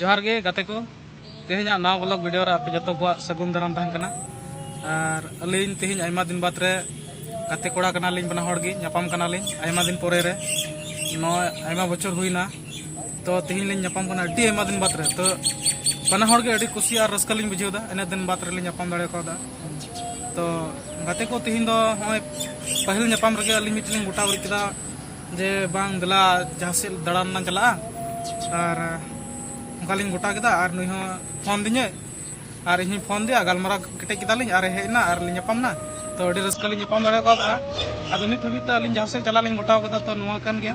ᱡᱚᱦᱟᱨ ᱜᱮ ᱜᱟᱛᱮ ᱠᱚ ᱛᱮᱦᱮᱧᱟᱜ ᱱᱟᱣᱟ ᱵᱞᱚᱜ ᱵᱷᱤᱰᱤᱭᱳ ᱨᱮ ᱟᱯᱮ ᱡᱚᱛᱚ ᱠᱚᱣᱟᱜ ᱥᱟᱹᱜᱩᱱ ᱫᱟᱨᱟᱢ ᱛᱟᱦᱮᱱ ᱠᱟᱱᱟ ᱟᱨ ᱟᱹᱞᱤᱧ ᱛᱮᱦᱮᱧ ᱟᱭᱢᱟ ᱫᱤᱱ ᱵᱟᱫᱽ ᱨᱮ ᱜᱟᱛᱮ ᱠᱚᱲᱟ ᱠᱟᱱᱟᱞᱤᱧ ᱵᱟᱱᱟ ᱦᱚᱲ ᱜᱮ ᱧᱟᱯᱟᱢ ᱠᱟᱱᱟᱞᱤᱧ ᱟᱭᱢᱟ ᱫᱤᱱ ᱯᱚᱨᱮ ᱨᱮ ᱱᱚᱣᱟ ᱟᱭᱢᱟ ᱵᱚᱪᱷᱚᱨ ᱦᱩᱭᱱᱟ ᱛᱚ ᱛᱮᱦᱮᱧ ᱞᱤᱧ ᱧᱟᱯᱟᱢ ᱠᱟᱱᱟ ᱟᱹᱰᱤ ᱟᱭᱢᱟ ᱫᱤᱱ ᱵᱟᱫᱽ ᱨᱮ ᱛᱚ ᱵᱟᱱᱟ ᱦᱚᱲ ᱜᱮ ᱟᱹᱰᱤ ᱠᱩᱥᱤ ᱟᱨ ᱨᱟᱹᱥᱠᱟᱹ ᱞᱤᱧ ᱵᱩᱡᱷᱟᱹᱣᱫᱟ ᱤᱱᱟᱹ ᱫᱤᱱ ᱵᱟᱫᱽ ᱨᱮᱞᱤᱧ ᱧᱟᱯᱟᱢ ᱫᱟᱲᱮ ᱠᱟᱣᱫᱟ ᱛᱚ ᱜᱟᱛᱮ ᱠᱚ ᱛᱮᱦᱮᱧ ᱫᱚ ᱱᱚᱜᱼᱚᱭ ᱯᱟᱹᱦᱤᱞ ᱧᱟᱯᱟᱢ ᱨᱮᱜᱮ ᱟᱹᱞᱤᱧ ᱢᱤᱫᱴᱮᱱ ᱞᱤᱧ ᱜᱚᱴᱟ ᱩᱨᱤᱡ ᱠᱮᱫᱟ ᱡᱮ ᱵᱟᱝ ᱫᱮᱞᱟ ᱡᱟᱦᱟᱸ ᱥᱮᱫ ᱫᱟᱬᱟᱱ ᱞᱟᱝ ᱪᱟᱞᱟᱜᱼᱟ ᱟᱨ ᱚᱱᱠᱟ ᱞᱤᱧ ᱜᱚᱴᱟ ᱠᱮᱫᱟ ᱟᱨ ᱱᱩᱭ ᱦᱚᱸ ᱯᱷᱳᱱ ᱫᱤᱧᱟᱹ ᱟᱨ ᱤᱧ ᱦᱚᱸᱧ ᱯᱷᱳᱱ ᱫᱮᱭᱟ ᱜᱟᱞᱢᱟᱨᱟᱣ ᱠᱮᱴᱮᱡ ᱠᱮᱫᱟᱞᱤᱧ ᱟᱨ ᱦᱮᱡ ᱮᱱᱟ ᱟᱨ ᱞᱤᱧ ᱧᱟᱯᱟᱢ ᱮᱱᱟ ᱛᱚ ᱟᱹᱰᱤ ᱨᱟᱹᱥᱠᱟᱹ ᱞᱤᱧ ᱧᱟᱯᱟᱢ ᱫᱟᱲᱮ ᱠᱟᱣᱫᱟ ᱟᱫᱚ ᱱᱤᱛ ᱦᱟᱹᱵᱤᱡ ᱛᱮ ᱟᱹᱞᱤᱧ ᱡᱟᱦᱟᱸ ᱥᱮᱫ ᱪᱟᱞᱟᱜ ᱞᱤᱧ ᱜᱚᱴᱟᱣ ᱠᱟᱫᱟ ᱛᱚ ᱱᱚᱣᱟ ᱠᱟᱱ ᱜᱮᱭᱟ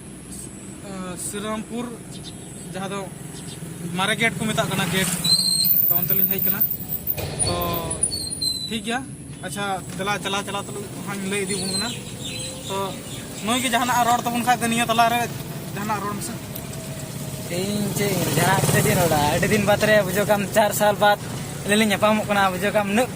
ᱥᱨᱤᱨᱟᱢᱯᱩᱨ ᱡᱟᱦᱟᱸ ᱫᱚ ᱢᱟᱨᱮ ᱜᱮᱴ ᱠᱚ ᱢᱮᱛᱟᱜ ᱠᱟᱱᱟ ᱜᱮᱴ ᱛᱚ ᱚᱱᱛᱮ ᱞᱤᱧ ᱦᱮᱡ ᱠᱟᱱᱟ ᱛᱚ ᱴᱷᱤᱠ ᱜᱮᱭᱟ ᱟᱪᱪᱷᱟ ᱫᱮᱞᱟ ᱪᱟᱞᱟᱣ ᱪᱟᱞᱟᱣ ᱛᱩᱞᱩᱡ ᱦᱟᱸᱜ ᱞᱟᱹᱭ ᱤᱫᱤ ᱵᱚᱱ ᱠᱟᱱᱟ ᱛᱚ ᱱᱩᱭ ᱜᱮ ᱡᱟᱦᱟᱱᱟᱜ ᱨᱚᱲ ᱛᱟᱵᱚᱱ ᱠᱷᱟᱡ ᱫᱚ ᱱᱤᱭᱟᱹ ᱛᱟᱞᱟ ᱨᱮ ᱡᱟᱦᱟᱱᱟᱜ ᱨᱚᱲ ᱢᱮᱥᱮ ᱤᱧ ᱪᱮᱫ ᱡᱟᱦᱟᱸ ᱪᱮᱫ ᱤᱧ ᱨᱚᱲᱟ ᱟᱹᱰᱤ ᱫᱤᱱ ᱵᱟᱫᱽ ᱨᱮ ᱵᱩᱡᱷᱟᱹᱣ ᱠᱟᱢ ᱪᱟᱨ ᱥᱟᱞ ᱵᱟᱫᱽ ᱟᱹᱞᱤᱧ ᱞᱤᱧ ᱧᱟᱯᱟᱢᱚᱜ ᱠᱟᱱᱟ ᱵᱩᱡᱷᱟᱹᱣ ᱠᱟᱢ ᱩᱱᱟᱹᱜ